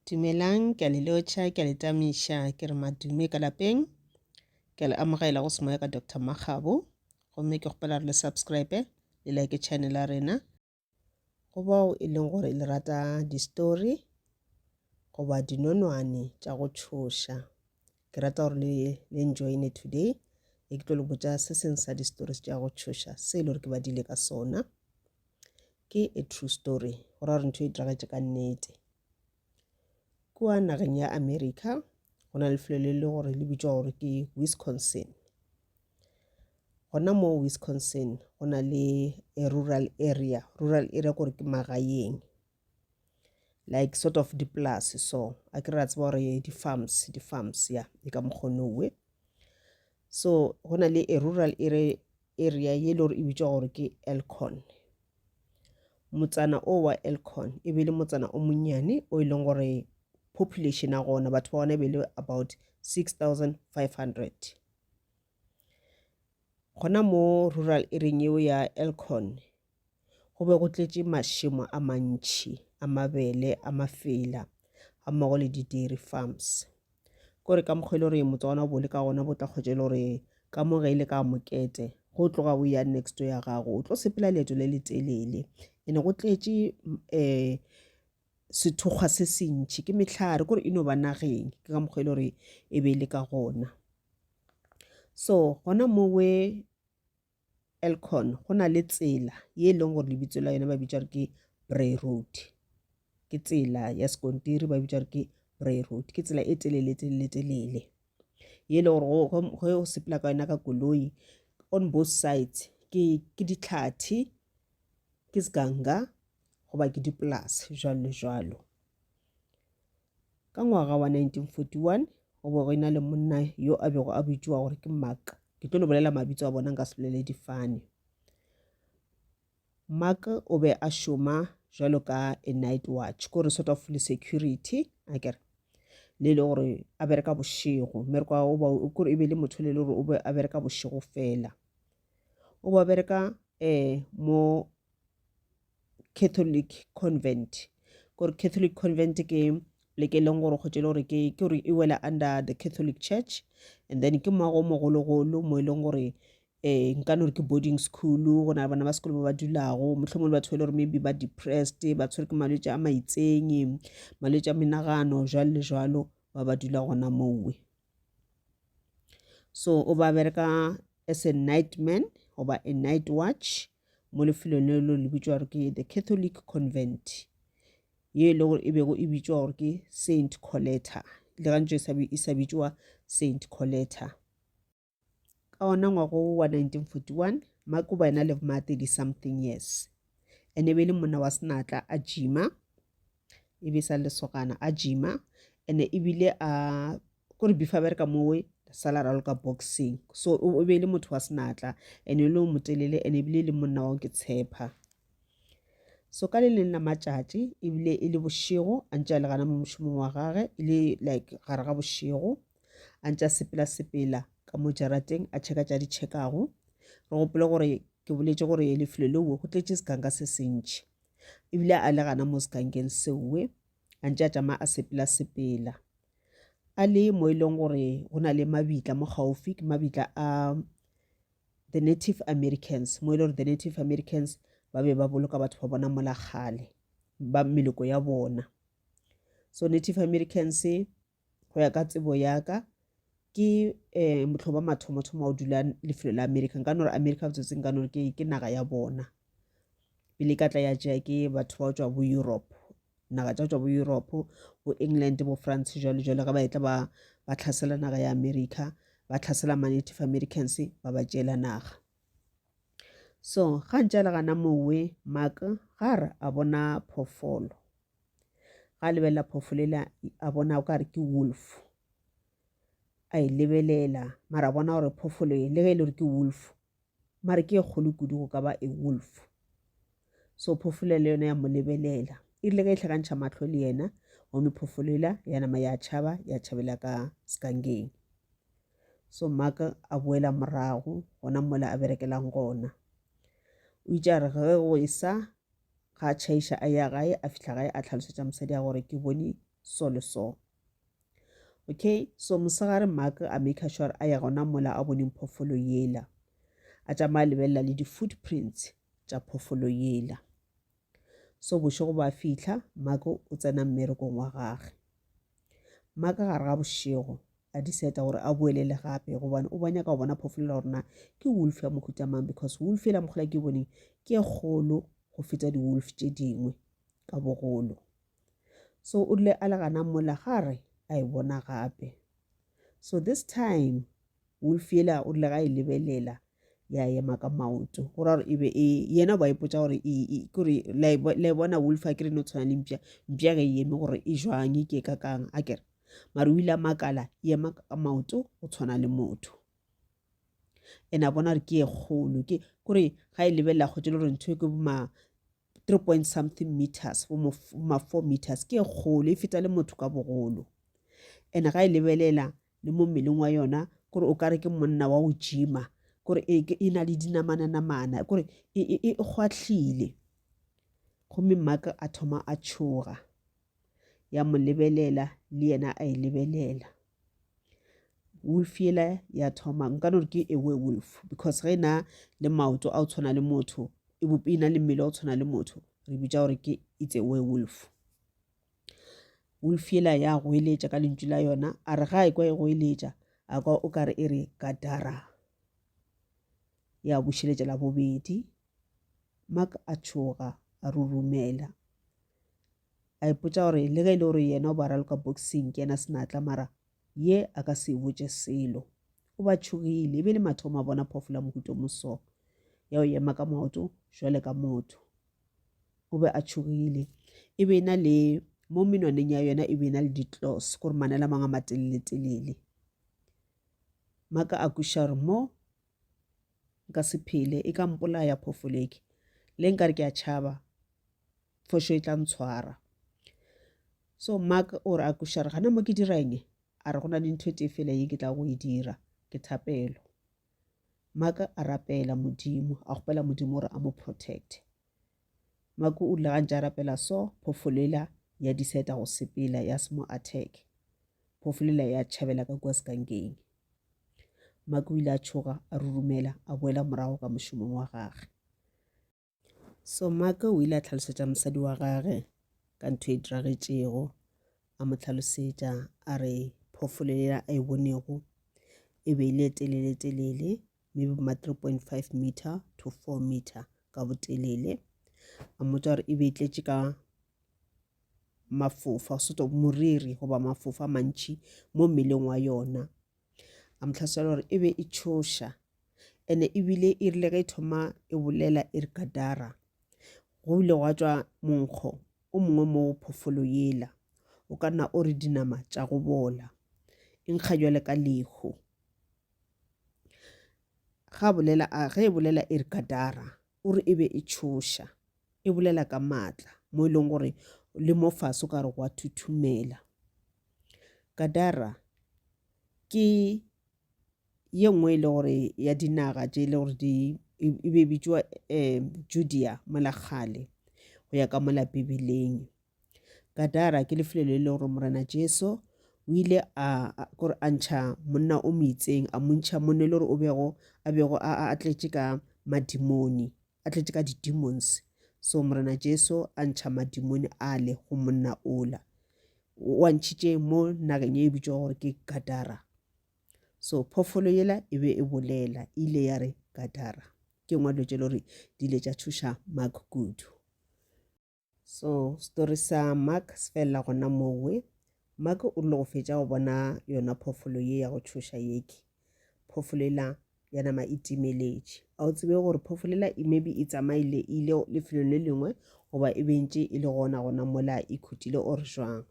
Dumelang, ke a le lotšha, ke a le tamiša, ke re madume ka lapeng. Ke a le amogela go semoya ka Doctor Makgabo, gomme ke kgopela re le subscribe le like channel ya rena. Go bao e leng gore le rata di-story goba dinonwane tša go tšhoša, ke rata gore le, le enjoyne today. E ke tlo le botša se seng sa di-stories tša go tšhoša se e le gore ke badile ka sona. Ke a true story go ra gore ntho e diragatše ka nnete. Kua nageng ya America go na le lefelo le le gore le bitšwa gore ke Wisconsin. Gona mo Wisconsin go na le a rural area, rural area kore ke magaeng like sort of dipolase so a ke ra tseba gore di-farms, di-farms ya ke ka mokgwa o no we. So go na le a rural area area ye le gore e bitšwa gore ke elcon motsana o wa elcon e be le motsana o monnyane o e leng gore population ya gona batho ba gona e be le about 6500 gona mo rural area eo ya elcon Go be go tletše mašemo a mantši a mabele a mafela ga mmogo le di-dairy farms. Ko re ka mokgwa e le gore motswana o bole ka gona bo tla kgotša e le gore ka mo ge e le ka mokete go tloga o ya next ya gago o tlo sepela leeto le le telele ene go tletše um eh, sethokgwa se sentšhi ke mehlare kore e no ba nageng ke ka mokgwa e le gore e be e le ka gona so gona mowe Elkhorn go na le tsela ye e leng gore lebitso la yone ba bitša gore ke Bray Road. Ke tsela ya sekontiri ba bitša gore ke Bray Road. Ke tsela e telele telele telele ye e le gore ge o sepela ka yona ka koloi on both sides ke ke ditlhathi ke seganga goba ke dipolase jalo le jalo. Ka ngwaga wa 1941 go be go ena le monna yo a bego a bitšwa gore ke Mark. Ke tlo le bolela mabitso a bona nka se bolele difane. Mark o be a šoma jalo ka a night watch ko re sort of le security a kere le le gore a bereka bošego mme re kwa o ba kore e be le motho le le gore o be a bereka bošego fela o ba bereka um mo Catholic convent gore Catholic convent ke pleke e leng gore kgotse e le gore ke ke gore e wela under the Catholic church and then ke moago o mogologolo mo e leng gore um nka no re ke boarding school go na le bana ba sekolo ba ba dulago motlhomong le batho ba e le gore maybe ba depressed ba tshwere ke malwetse a maitseng malwetse a menagano jalo le jalo ba ba dula gona mowe so o ba bereka as a night man goba a night watch mo lefelong le lo le bitšwa gore ke the catholic convent ye e le gore e bego e bitšwa gore ke saint coletta le gantse e sa bitšwa saint coletta Ka wona ngwaga wo wa 1941, Mark o ba ena le bma 30 something years. Ene e be e le monna wa senatla, a jima, e be sa le lesogana, a jima, ene e bile a kore before bereka mowe sala raloka boxing so o be e le motho wa senatla ene e le o motelele ene ebile e le monna wa ke tshepa so ka le leng la matšatši ebile e le bošego a ntse a le gana mo mošomong wa gage e le like gare ga bošego a ntša sepela-sepela ka mo jarateng a tšheka tša di tšhekago re gopole gore ke boletše gore lefelo leo go tletše sekanka se sentšhi ebile a le gana mo sekankeng seowe a ntša tšama a sepela-sepela a le mo e leng gore go na le mabitla mo gaufi ke mabitla a the native americans mo e le gore the native americans ba be ba boloka batho ba bona molakgale ba meloko ya bona so native americans go ya ka tsebo yaka ke um motlho ba mathomo-thomo wa go dula lefelo la america nka no re america botsotseng ka nore ke naga ya bona pele ka tla ya tšea ke batho ba go tswa bo europe naga tša go tswa bo europe bo england bo france jalo jalo ga ba etla ba ba tlhasela naga ya america ba tlhasela ma-native americans ba ba tšeela naga so ga ntse a le gana mowe maka ga re a bona phofolo ga a lebelela phoofolo ele a bona o ka re ke wolf a e lebelela mara a bona gore phoofolo e le ge e le gore ke wolf mare ke e kgolo kudu go ka ba a wolf so phoofolo le yone ya mo lebelela e rile ge e tlhakantšha matlho le yena gomme phoofolo ela ya nama ya tšhaba ya tšhabela ka sekangeng so maka a boela morago gona mola a berekelang gona o itše a re ge go e sa Ga a tšhaiša a ya gae, a fihla gae a tlhalosetša mosadi ya gore ke bone so le so. Okay, so mosegare Mark a maker sure a ya gona mola a boneng phofolo yela. A tšama a lebelela le di-footprints tša phofolo yela. So bošego ba fihla, Mark o tsena mmerekong wa gage. Mark gare ga bošego a decide gore a boelele gape gobane o banyaka go bona phofolela gore na ke wolf ya mohuta mang because wolf ela mogola ke boneng ke e kgolo go feta di-wolf tše dingwe ka bogolo so o rile a le gana mola ga re a e bona gape so this time wolf ela o rile ga e lebelela ya ema ka maoto go ra gore e be e yena ba ipotsa gore kore la e bona wolf a kere no tshwana le mpša mpša ge e eme gore e jwang e ke ka kang a kere mare o ile a makala yema ka maoto o tshwana le motho and a bona gore ke e kgolo ke kore ga e lebelela kgotse le gore ntho e ke boma three point something meters boma four meters ke e kgolo e feta le motho ka bogolo and ga e lebelela le mo mmeleng wa yona kore o kare ke monna wa go jima kore e, e na le dinamananamana kore e, e, e kgwatlhile gomme maka a thoma a tshoga ya mo lebelela le yena a e lebelela wolf yela ya thoma nka no ke e we wolf because ge na le maoto a o tshwana le motho e bope e na le mmele o tshwana le motho re bitsa gore ke it's a werewolf wolf yela ya goeletša ka lentšu la yona a re ga e kwa e goeletša a kwa o ka re e re kadara ya bušeletša la bobedi Mark a tšhoga, a rurumela. A ipotša gore le ge e le gore yena o ba raloka boxing ke yena senatla mara ye a ka se e botše selo. O ba tšhogile, e be le mathomo a bona phoofolo ya mohuto moso ya o ema ka maoto jwale ka motho. O be a tšhogile, e be e na le mo menwaneng ya yona e be e na le ditlos gore manela mang a matelele-telele. Maka a kweša gore mo nka se phele e ka mpolaya phofoleke le nka re ke a tšhaba fošo e tla ntshwara so mark o re a kušare gana mo ke dirang a re go na le ntho e tee fela ye ke tla go e dira ke thapelo mark a rapela modimo a gopela modimo gore a mo protecte mark o rile gantši a rapela so phofolela ya diseta go sepela ya se mo attack phofolela ya tšhabela ka kua sekankeng Mark o ile a tšhoga, a rurumela, a boela morago ka mošomong wa gage. So Mark o ile a tlhalosetša mosadi wa gage ka ntho e diragetšego, a mo tlhalosetša a re phoofolo yela a e bonego e be e le telele-telele maybe ma 3.5 meter to 4 meter ka botelele. A mmotša gore e be e tletše ka mafofa sort of moriri goba mafofa a mantšhi mo mmeleng wa yona a mo tlhasela gore e be e tšhoša ene ebile e rile ge e thoma e bolela e re kadara go ile gwa tswa monkgo o mongwe mo phofolo yela o ka nna o re dinama tša go bola e nkga jwale ka lehu ga bolela a ge e bolela e re kadara O re e be e tšhoša, e bolela ka maatla, mo e lego gore le mo fase o ka re gwa thuthumela. Gadara ke ye nngwe e le gore ya dinaga tše e le gore di e, e be e bitšwa um Judea mola kgale go ya ka mola Bibeleng. Gadara ke lefelo le le gore Morena Jesu o ile a kore a ntšha monna o moitseng a montšha monna le gore o bego a bego a tletše ka madimoni a tletše ka di-demons so Morena Jesu a ntšha madimoni a le go monna ola o a ntšhitše mo nageng e bitšwa gore ke Gadara so phoofolo yela e be e bolela e ile ya re Gadara ke ngwe dilo tše le gore di ile tša thuša Mark kudu So, story sa Mark se felela gona mowe. Mark o rile go fetša go bona yona phoofolo ye ya go tšhoša yeke. Phoofolo ela ya nama e timeletše. A o tsebe gore phoofolo ela e maybe e tsamaile e ile lefelong le lengwe goba e bentše e le gona gona mola e khutile or jwang.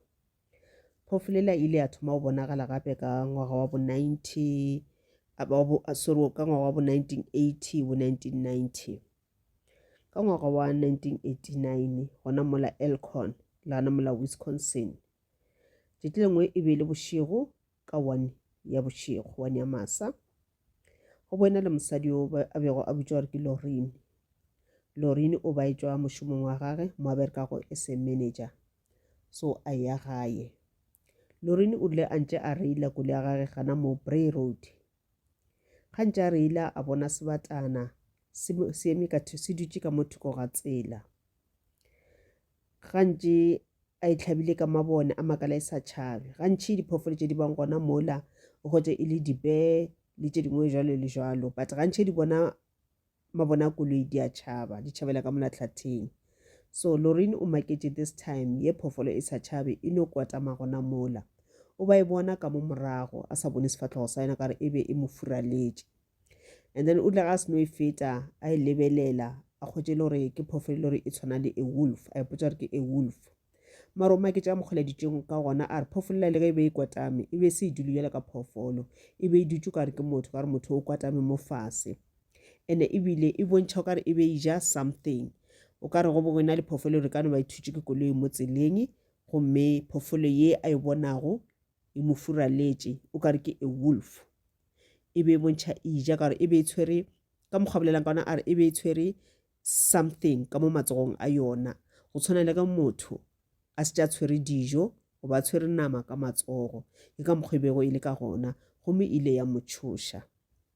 Phoofolo ela e ile ya thoma go bonagala gape ka ngwaga wa bo 90 sorry ka ngwaga wa bo 1980 bo 1990. Ka ngwaga wa 1989, gona mola Elkhorn, lana mola Wisconsin, tšatši lengwe e be e le bošego ka one ya bošego, one ya masa, go boena le mosadi yo a bego a bitšwa gore ke Lorin. Lorin o ba etšwa mošomong wa gage mo a berekago e se manager, so a ya gaye. Lorin o rile a ntše a reila kole ya gage gana mo Bray Road, Gantši a reila a bona sebatana se eme ka se dutše ka mo thoko ga tsela. Gantši a itlhabile ka mabone a makala e sa tšhabe. Gantši diphoofolo tše di bang gona mola o hwetše e le dibee le tše dingwe jalo le jalo but gantši di bona ma bona koloi di a tšhaba di tšhabela ka mona tlhatheng so Lorraine o maketše this time ye phofolo e sa tšhabe e no kwatama gona mola o ba e bona ka mo morago a sa bone sefatlhogo sa yona ka re e be e mo furaletše and then o tla ga se no e feta a e lebelela a kgotše le gore ke phofolo le gore e tshwana le a wolf a ipotsa gore ke a wolf mara o maketša a mokgoleditšeng ka gona a re phofolola le ge e be e kwatame e be se e dule bjalo ka phoofolo e be e dutše ka re ke motho ka re motho o kwatame mo fase ene ebile e bontšha o kare e be e ja something o ka re go bongwe na le phofolo re ka no ba e thutše ke koloi mo tseleng gomme phofolo ye a e bonago e mo furaletše o kare ke a wolf e be e bontšha e ja ka gore e be e tshwere ka mokgwa bolelang ka ona a re e be e tshwere something ka mo matsogong a yona go tshwana le ka motho a se tša tshwere dijo go ba tshwere nama ka matsogo ke ka mokgwa e bego e le ka gona gomme e ile ya motšhoša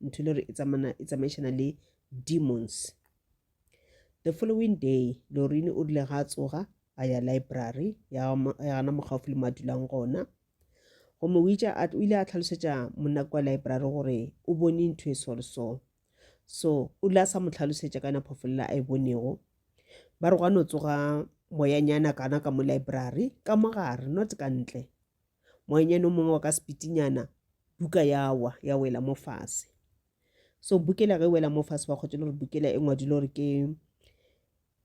ntho le gore e tsamana e tsamaišana le demons the following day lorini o rile ga a tsoga a ya library ya gana mogaufi le mo a dulang gona gomme o ile a tlhalosetša monna kwa library gore o bone ntho e so le so so o ile a sa mo tlhalosetša ka yona phofolela a e bonego ba re gwa no tsoga moyanyana kana ka mo library ka mo gare not ka ntle Moanyane o mongwe wa ka sepitinyana, buka ya wa, ya wela mo fase. So bukela ge e wela mo fase ba kgotse le gore bukela e ngwadile gore ke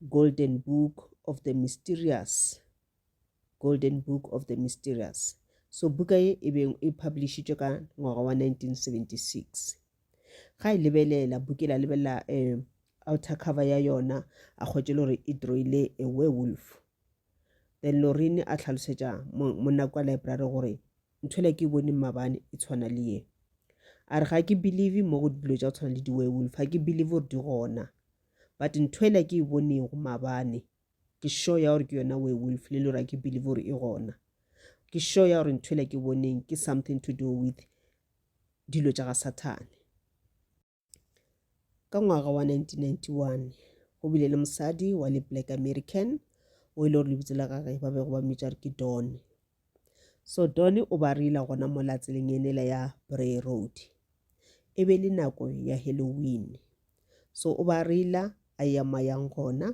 Golden Book of the Mysterious. Golden Book of the Mysterious. So buka e e beng e publishitšwe ka ngwaga wa 1976. Ga e lebelela, bukela lebelela um outer cover ya yona, a kgotse le gore e droile a werewolf. Then Lorene a hlalosetša monna kwa library gore nthwela ke bone mmabane e tshwana le ye a re ga ke believe mo go dilo tša go tshwana le di-werewolf ga ke believe gore di gona but nthwela ke e bonego mabane ke sure ya gore ke yona werewolf le lore ga ke believe gore e gona ke sure ya gore nthwela ke boneng ke something to do with dilo tša ga sathane Ka ngwaga wa 1991 go bile le mosadi wa le black American o e le gore lebitso la gage ba bego ba mmitša re ke Don. So Don o ba reila gona mo la tseleng enela ya Bray Road. E be le nako ya Halloween. So o ba reila a ya mayang gona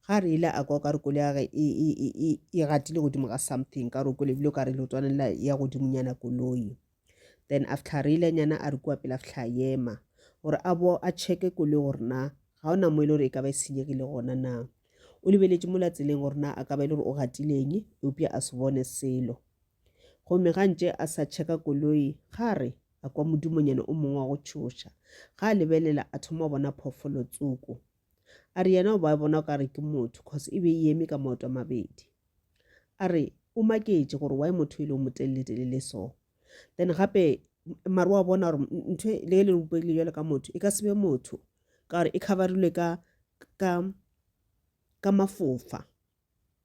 ga re ile a kwa ka re kole ya ge e, e, e, e gatile godimo ga something ka re o kwelebile o ka re lotwanela ya godimonyana koloi then a fitlha re ile nyana a re kua pele a fitlha a yema gore a bo a checke koloi gore na ga ona mo e le gore e ka ba e senyegile gona na o lebeletše mo la tseleng gore na a ka ba e le gore o gatileng eupša a se bone selo gomme ga ntše a sa checka koloi ga re a kwa modimonyane o mongwe wa go tšhoša ga a lebelela a thoma go bona phoofolo tsoko A re yena o ba bona o ka re ke motho cause e be e eme ka maoto a mabedi. A re o maketše gore why motho e le o motelele-telele so. Then gape mare wa bona gore ntho e le le bopegile jalo ka motho e ka sebe motho ka gore e coverilwe ka ka ka mafofa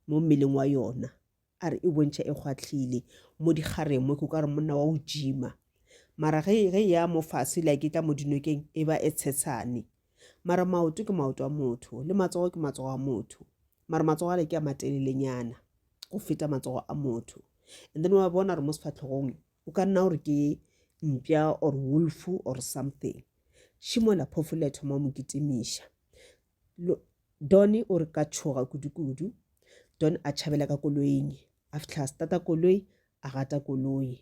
mo mmeleng wa yona a re e bontšha e kgwahlile mo dikgareng mo ke ka re monna wa o jima mara ge ge e ya mo fase le a ke tla mo dinokeng e ba e tshetshane mara maoto ke maoto a motho le matsogo ke matsogo a motho mara matsogo ale ke a matelelenyana go feta matsogo a motho and then wa bona gore mo sefatlhogong o ka nna gore ke mpša or wolf or something šimola phofolo ya thoma mo kitimiša Lo, Donny o re ka tšhoga kudukudu. Don a tšhabela ka koloing. A fihla a stata koloi, a gata koloi.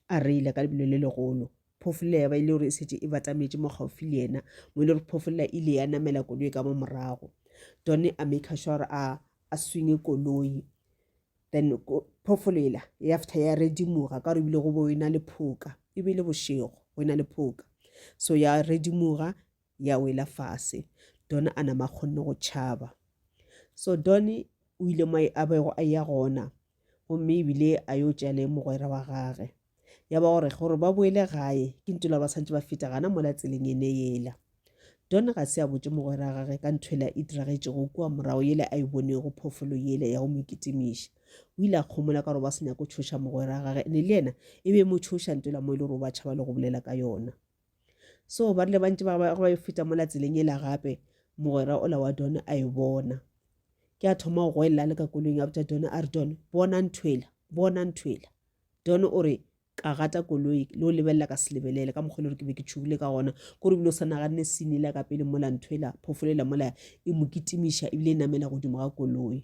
A reila ka lebelo le legolo. Phofolla ya ba e le gore e setse e batametše mo gaufi le yena, mo e le gore phofolla e ile ya namela koloi ka mo morago. Donny a maker sure gore a, a swinge koloi. Then ko, phofolela ya fihla ya redimoga ka gore ebile go bo e na le phoka. E be e le bošego, go e na le phoka. So ya redimoga, ya wela fase don a nama kgonne go tšhaba so don o ile mo a bego a ya gona gomme ebile a yo tša le mogwera wa gage ya ba gore gore ba boele gae ke ntho la ba santse ba feta gana mola tseleng ene yela don ga se a botse mogwera wa gage ka ntho ela e diragetšego kua morago yele a e bonego phofolo yele ya go mo kitimiša o ile a kgomola ka gore ba se nyako tshoša mogwera wa gage ne le yena e be mo tshoša ntho ela mo e le gore o ba tšhaba le go bolela ka yona So ba rile ba ntse ba ba e feta mola tseleng ela gape, mogwera ola wa Don a e bona. Ke a thoma go goelela a le ka koloing a botša Don a re, Don, bona nthwela, bona nthwela. Don o re, Ka gata koloi, le go lebelela ka se lebelele, ka mokgwa e le gore ke be ke tšhogile ka gona, ke gore ebile o sa naganne scene ela ka pele mola nthwela, phoofolo ela mola e mo kitimiša ebile e namela godimo ga koloi.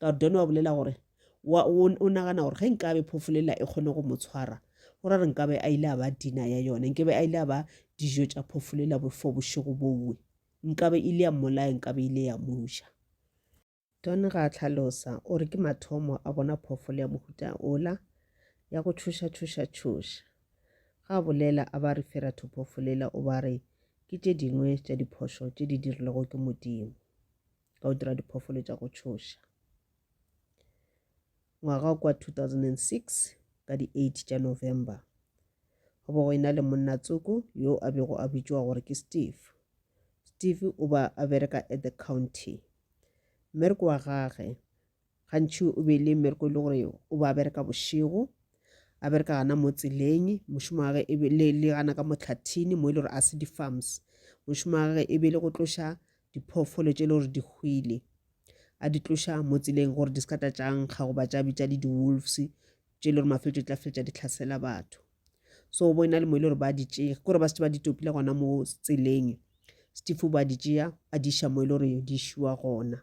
Gordon wa bolela gore, wa, o, o nagana gore ge nkabe phofu lela e kgone go mo tshwara, go ra re nkabe a ile a ba dina ya yona, nkebe a ile a ba dijo tša phofu lela for bošego bowe. Nkabe ile ya mmolaya, nkabe ile ya mo ja. Don ga a hlalosa, o re ke mathomo a bona phoofolo ya mohuta ola, ya go tšhoša, tšhoša, tšhoša. Ga a bolela, a ba refera to phoofolo ela, o ba re, Ke tše dingwe tša diphošo tše di dirilwego ke Modimo. ka go dira diphoofolo tša go tšhoša. Ngwaga kwa 2006 ka di 8 tša November go bo go ena le monna tsoko yo a bego a bitšwa gore ke Steve. Steve o ba a bereka at the county. Mmereko wa gage gantši o be e le mmereko e le gore o ba bereka bošego a bereka gana mo tseleng mošomo wa gage e le le gana ka motlhathini mo e le gore a se di-farms mošomo wa gage e be e le go tloša diphoofolo tše e le gore di hwile a di tloša mo tseleng gore di se ka tla tša nkga goba tša bitša le di-wolves tše e le gore mafeletšo tla feletša di tlhasela batho so bo e na le mo e le gore ba di tšee ke gore ba setse ba di topile gona mo tseleng stefo ba di tšea a di iša mo e le gore di šiwa gona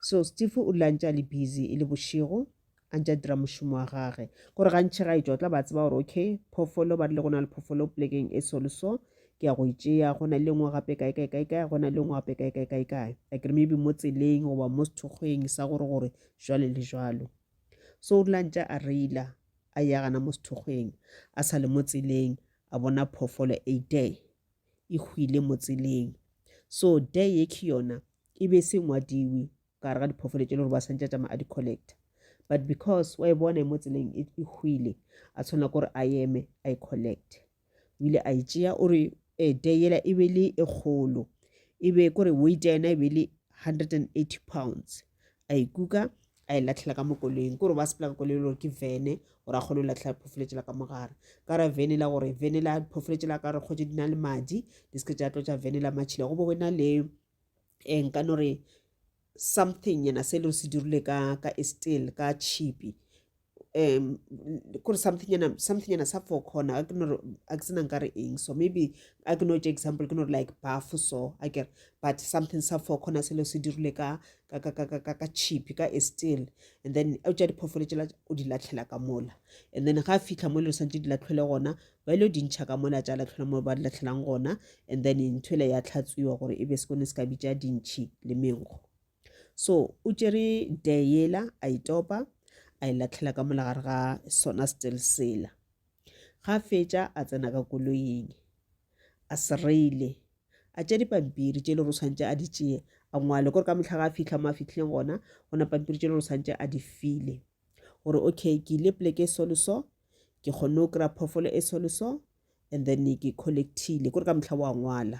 so steve o dula a ntse a le busy e le bošego a ntse a dira mošomo wa gage gore gantšhe ga etšwa tla ba tseba gore okay phoofolo ba rile go na le phoofolo polekeng e so le so ke ya go e tšea go na le ngwe gape kae kae kae kae go na le ngwe gape kae kae kae kae like re maybe mo tseleng goba mo sethokgweng sa gore gore jwale le jwalo so o dula ntse a reila a ya gana mo sethokgweng a sa le mo tseleng a bona phoofolo a day e hwile mo tseleng so day ye ke yona e be se ngwadiwe ka gare ga diphoofolo tše le gore ba santse a tšama a di-collecta but because wa e bona e mo tseleng e, e hwile a tshwanela gore a eme a e collect o ile a e tšea o re eh, day yela e be le e kgolo e be kore weight ya yena e be le 180 pounds a ikuka a e latlhela ka mo koloing kore ba sepela ka koloi gore ke vene gore a kgone go latlhela phofoletse la ka mogare ka ra vene la gore vene la phofoletse la ka re kgotse di na le madi di seke tša tlo tša vene la matšhila go bo go na le um eh, nka no re something yena se le se dirile ka ka estel ka chipi um kore something ena something ena sa four corner a ke no re a ke sena nka re eng so maybe a ke no tše example ke no re like buff so a kere but something sa four corner selo se dirile ka ka ka ka ka ka ka chip ka e still and then a tša diphoofolo tšela o di latlhela ka mola and then ga a fitlha mo le santse di latlhwele gona ba ile di ntšha ka mola tša latlhwela mo ba di latlhelang gona and then ntho ele ya tlhatswiwa gore e be se kone se ka bitša dintšhi le menkgo So o tšere dare yela a e topa a e latlhela ka mola gare ga sona still sela. Ga a fetša a tsena ka koloing a sereile a tšea dipampiri tše e le gore o tshwanetse a di tšee a ngwale kore ka motlha ga a fitlha mo a fitlhileng gona go na pampiri tše e le gore o tshwanetse a di file gore okay ke ile poleke e so le so ke kgonne go kry-a phoofolo e so le so and then ke collectile kore ka motlha wa ngwala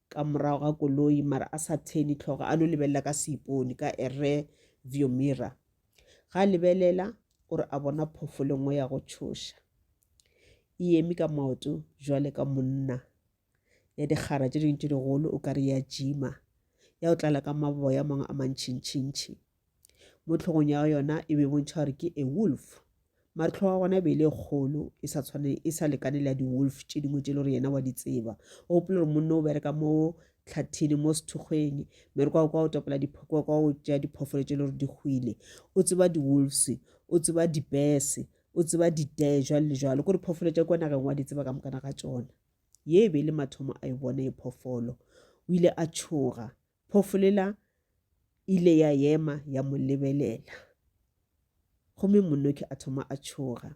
ka morago ga koloi mara a sa theni tlhogo a no lebelela ka seipone ka a re view mirror ga a lebelela o re a bona phofolo nngwe ya go tšhoša e eme ka maoto jwale ka monna ya dikgara tše dingwe tše digolo o ka re ya jima ya o tlala ka maboya mangwe a mantšhintšhintšhi mo tlhogong ya yona e be bontšha gore ke a wolf mare tlhogo ya gona e be e le kgolo e sa tshwane e sa lekane le ya di-wolf tše dingwe tše le gore yena wa di tseba o gopola gore monne o bereka mo tlhathini mo sethokgweng mere kwa kwa o tapela kwa kwa o tšea diphoofolo tše le gore di hwile o tseba di-wolves o tseba dipese o tseba ditee jwalo le jwalo kore phoofolo tša kwa nageng wa di tseba ka mokana ga tsona ye e be e le mathomo a e bone e phoofolo o ile a tšhoga Phofu lela ile ya ema ya mo lebelela gomme monoki a thoma a tšhoga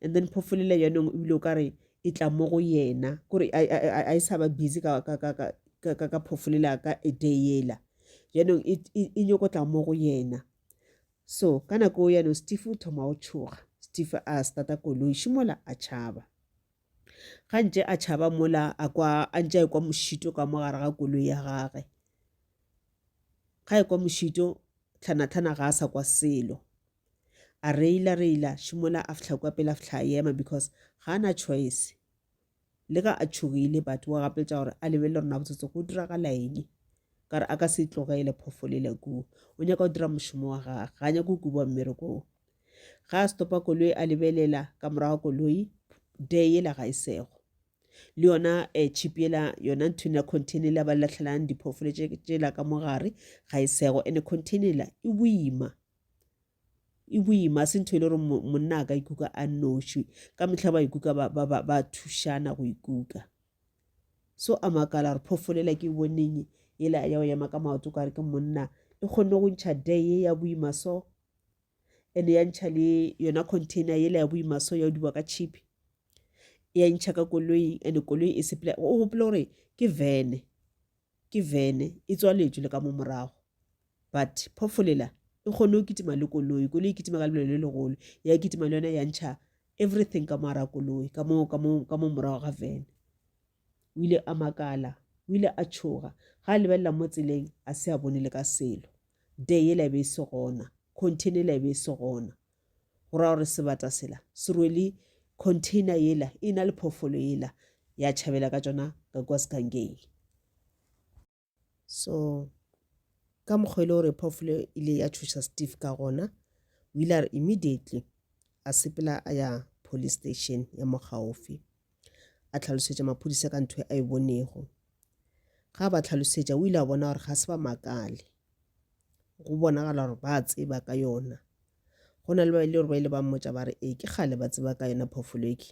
and then phofu lela yanong ebile o ka re e tla mo go yena kore a e sa ba busy ka, ka, ka, ka, ka, ka, ka phofu lela ka e day yela yanong e, e, e nyoko tla mo go yena so ka nako yanong steve o thoma o tšhoga steve a starta koloi šimola a tšhaba Ga ntše a tšhaba mola a kwa a ntše a ekwa mošito ka mo gare ga koloi ya gage. Ga ekwa mošito tlhanatlhana ga a sa kwa selo. A reila reila šimola a fihla kwa pele a fihla a ema because ga a na choice. Le ka a tšhogile but wa gapeletša gore a lebelele gore na botsotsi go diragala eng. Ka re a ka se tlogele phofolele kudu. O nyaka go dira mošomo wa gage. Ga a nyake go kubiwa mmerekong. Ge a stopa koloi a lebelela ka morago koloi, dee yela ga e sego. Le yona eh, chip yela, yona nthwena container yela ba lahlelang diphoofolo tšela ka mo gare, ga e sego. Ene container yela e boima. E boima, ga se ntho e le gore monna a ka ikuka a nnoši. Ka mehla ba ikuka ba, ba, ba, ba thušana go ikuka. So a makala gore phoofolo yela ke e boneng yela ya go ema ka maoto kare ke monna, e kgonne go ntšha dee ye ya boima so. ene ya ntšha le yona container yela ya boimaso ya o diba ka chipi ya ntšha ka koloing ene koloi e sepela o gopole gore ke vene ke vene e tswaletšwe le ka mo morago but phofolela e kgone go kitima le koloi koloi e kitima ka lebelo le legolo ya kitima le yona ya ntšha everything ka moara koloi ka mo morago ga vene O ile a makala. O ile a tšhoga. Ga a lebelela mo tseleng, a se a bone le ka selo. Dee yela e be e se gona. Container yela e be e se gona. Go ra gore sebata sela se rwele container yela e na le phoofolo yela ya tšhabela ka tšona ka kua Sgangeni. so ka mokgwa e le gore phoofolo e ile ya thuša steve ka gona o ile a re immediately a sepela a ya police station ya mo gaufi a tlhalosetša maphodisa ka ntho e a e bonego ga ba tlhalosetša o ile a bona gore ga se ba makale go bonagala gore ba tseba ka yona go na le ba ile gore ba ile ba mmotsa ba re ee ke kgale ba tseba ka yona phoofolo eke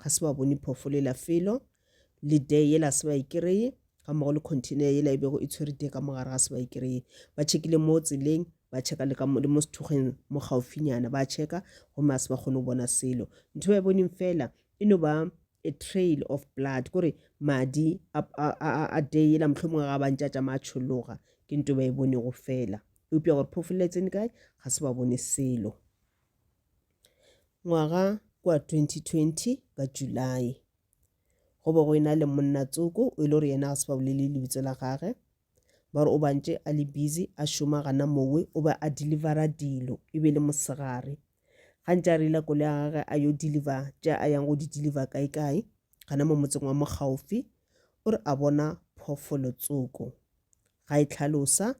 ga se ba bone phoofolo e la felo le dee yela se ba e kereye ga mmogo le container yela e bego e tshwere dee ka mogare ga se ba e kereye ba tšhekile mo tseleng ba checka le le mo sethugeng mo gaufinyana ba checka gomme a se ba kgone go bona selo ntho ba e boneng fela e no ba a trail of blood kore madi a day ela motlho mongwe ga bantse a tšama a tšhologa ke nto ba e bonego fela eupša gore phofolo e tsene kae ga se ba bone selo Ngwaga kwa 2020 ka July, go be go ena le monna tsoko o e le gore yena ga se ba bolele lebitso la gage ba re o bantše a le busy a šoma gana mongwe o be a delivera dilo e be le mosegare gantši a reila kole ya gage a yo deliver tša a yang go di deliver kae kae gana mo motseng wa mokgaufi o re a bona phofolo tsoko ga e tlhalosa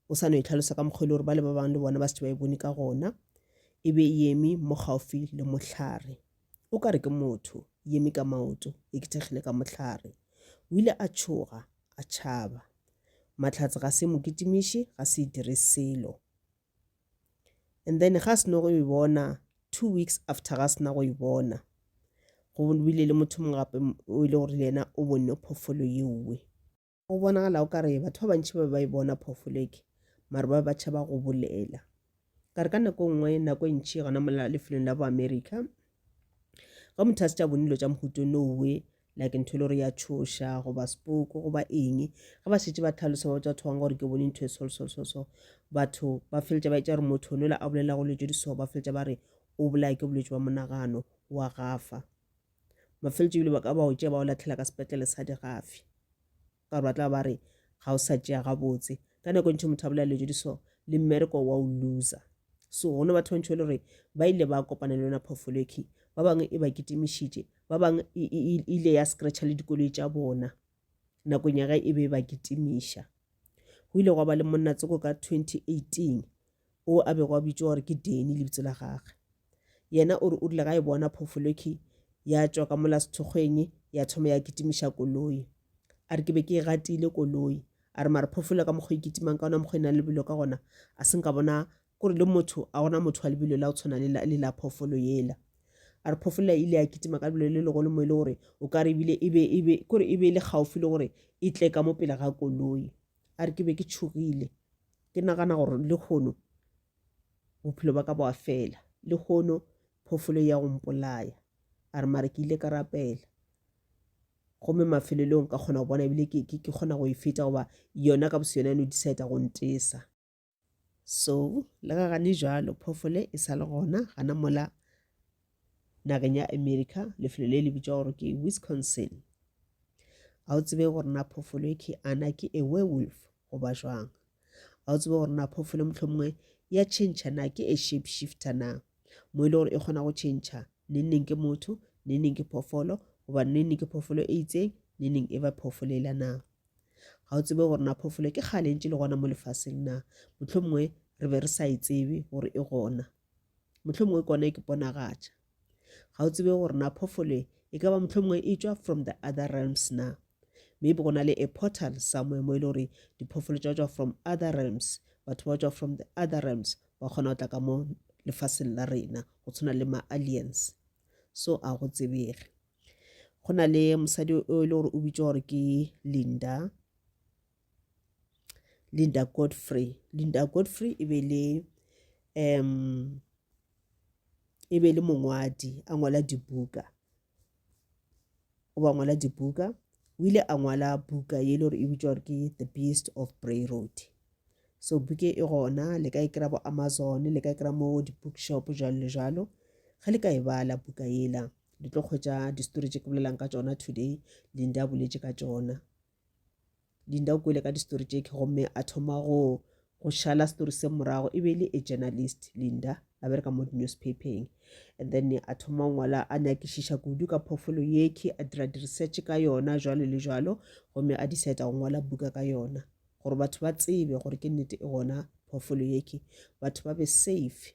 o sa no e tlhalosa ka mokgwa e le gore ba le ba bangwe le bona ba se ba e bone ka gona e be e eme mo gaufi le mohlare o ka re ke motho e eme ka maoto e kethegile ka mohlare o ile a tšhoga a tšhaba matlhatse ga se mo kitimiše ga se e dire selo and then ga se no go e bona two weeks after ga sena go e bona go bile le motho mongwe gape o ile gore le yena o bone phoofolo yeowe Go bonagala o ka re batho ba bantši ba be ba e bona phoofolo eke, mare ba be ba tšhaba go bolela. Ka re ka nako e nngwe, nako e ntši gona mo lefelong la boamerica, ge motho a se tša bone dilo tša mohuto nowe, like ntho e le gore ya tšhoša goba sepoko goba eng ge ba šetse ba tlhalosa ba botsa batho bangwe gore ke bone ntho e solsolsoso batho ba feletša ba etša gore motho nola a bolelago dilo tše di so ba feletša ba re o bolaya ke bolwetši bwa monagano wa gafa mafeletšo ebile ba ka ba o tšea ba o latlhela ka sepetlele sa digafi ka gore ba tla ba re ga o sa tšea gabotse ka nako ntšhe motho a bolela dilo tse di so le mmereko wa o loser so go ne batho ba ntšhe e le gore ba ile ba kopana le yona phofoloki ba bangwe e ba kitimišitše ba bangwe e, e, e, e ile ya scratcha le dikoloi tša bona nakong ya ge e be e ba kitimiša go ile gwa ba le monnatsoko ka 2018 o a bego a bitšwa gore ke Danny lebitso la gage. Yena o re o rile ga e bona phofolokhi ya tšwa ka mola sethokgweng ya thoma ya kitimiša koloi. A re ke be ke e gatile koloi. A re mara phofolo ka mokgwa e kitimang ka ona mokgwa e nang le lebelo ka gona a se nka bona kore le motho a gona motho wa lebelo la o tshwana le la, le la phofolo yela. A re phofolo e ile ya kitima ka lebelo le legolo mo e le gore o ka re ebile e be, e be, kore e be e le gaufi le gore e tle ka mo pele ga koloi. a re ke be ke tšhogile ke nagana gore le kgono bophelo ba ka boa fela le kgono phofolo ya go mpolaya a re mare ke ile ka rapela gomme mafelelong ka kgona go bona ebile ke kgona go e feta goba yona ka boseyona no decide go ntesa so le ga gane jalo phofole e sa le gona gana mola nageng ya america lefelo le le bitšwa gore ke wisconsin ga o tsebe gore na phofolo e ke ana ke a werewolf goba jwang ga o tsebe gore na phofolo mohlomongwe ya change na ke a shape shifter na mo e le gore e kgona go change neneng ke motho neneng ke phofolo goba neneng ke phofolo e itseng neneng e ba phofolo e la na Ga o tsebe gore na phoofolo ke kgale ntse le gona mo lefaseng na? Mohlomongwe re be re sa e tsebe gore e gona. Mohlomongwe kone ke ponagatša. Ga o tsebe gore na phoofolo e ka ba mohlomongwe e tšwa from the other realms na? Maybe go na le a portal somewhere mo e le gore diphoofolo tša tšwa from other realms, batho ba tšwa from the other realms ba kgona go tla ka mo lefaseng la rena go tshwana le ma-aliens. So a go tsebege. go na le mosadi o e le gore o bitšwa gore ke linda linda godfrey linda godfrey e be le um e be le mongwadi a ngwala dibuka o ba ngwala dibuka o ile a ngwala buka ye e le gore e bitšwa gore ke the beast of bray road so buke e gona le ka e kry-a bo amazon le ka e kry-a mo di-bookshop jalo le jalo ge le ka e bala buka yela di tlo kgwetsa di-story tse ke bolelang ka tsona today linda a boletše ka tsona linda o kwele ka di-story tse ke gomme a thoma go go šala story se morago e be e le a journalist linda a bereka mo di-newspapeng and then a thoma ngwala a nyakišiša kudu ka phofolo yeke a dira di-research ka yona jwalo le jwalo gomme a decide go ngwala buka ka yona gore batho ba tsebe gore ke nnete e gona phofolo yeke batho ba be safe